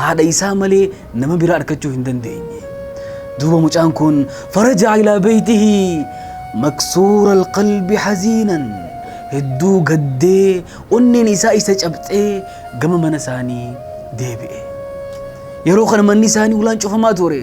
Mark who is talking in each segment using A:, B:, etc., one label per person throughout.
A: haadha isaa malee nama biraa argachuu hin dandeenye. Duuba mucaan kun faraja ilaa beeytihi maksuura alqalbi haziinan hedduu gaddee onneen isaa isa cabxee gama mana isaanii deebi'e. Yeroo kana manni isaanii ulaan cufamaa ture.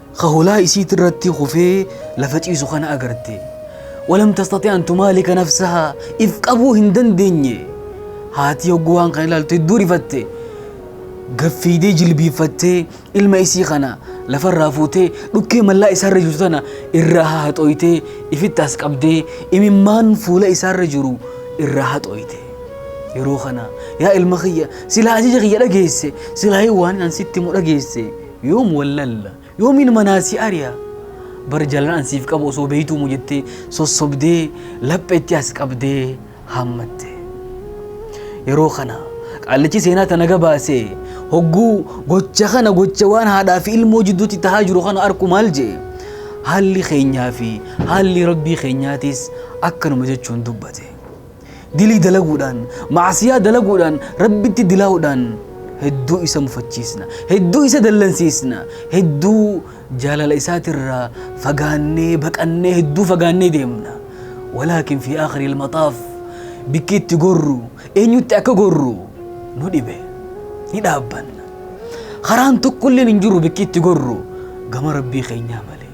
A: ka hulaa isiit irratti kufee lafa ciisu kana agarte walam tastati an tumaalika nafsaha if qabuu hin dandeenye haatii hogguu waan kana ilaaltu hedduu rifatte gaffiidee jilbiiffattee ilma isii kana lafarraa fuutee dhukkee mallaa isaarra jirtu tana irraa hahaxooytee ifitti as qabdee imimmaan fuula isaarra jiru irraa haxooyte yeroo kana yaa ilma kiyya silaa ajaja kiyya dhageesse silaa hin waan an sitti himu dhageesse Yoom wal lalla? Yoomiin manaa si ari'a? Bar jaalala an siif qabu osoo beeytuumu jettee sossobdee lapheetti as qabdee haammatte. Yeroo kana qaallichi seenaa tana gabaase hogguu gocha kana gocha waan haadhaa fi ilmoo jidduutti tahaa jiru kana arku maal je'e? Haalli keenyaa fi haalli Rabbii keenyaatiis akkanuma jechuun dubbate. Dilii dalaguudhaan, ma'asiyaa dalaguudhaan, Rabbitti dilaa'uudhaan hedduu isa mufachiisna, hedduu isa dallansiisna, hedduu jaalala isaatirraa fagaannee, baqannee, hedduu fagaannee deemna. Walaakin fi aakhiril maxaaf bikki itti gorru, eenyutti akka gorru nu dhibe. Ni dhaabbanna. Karaan tokkolleen hin jiru bikki itti gorru gama Rabbii keenyaa malee.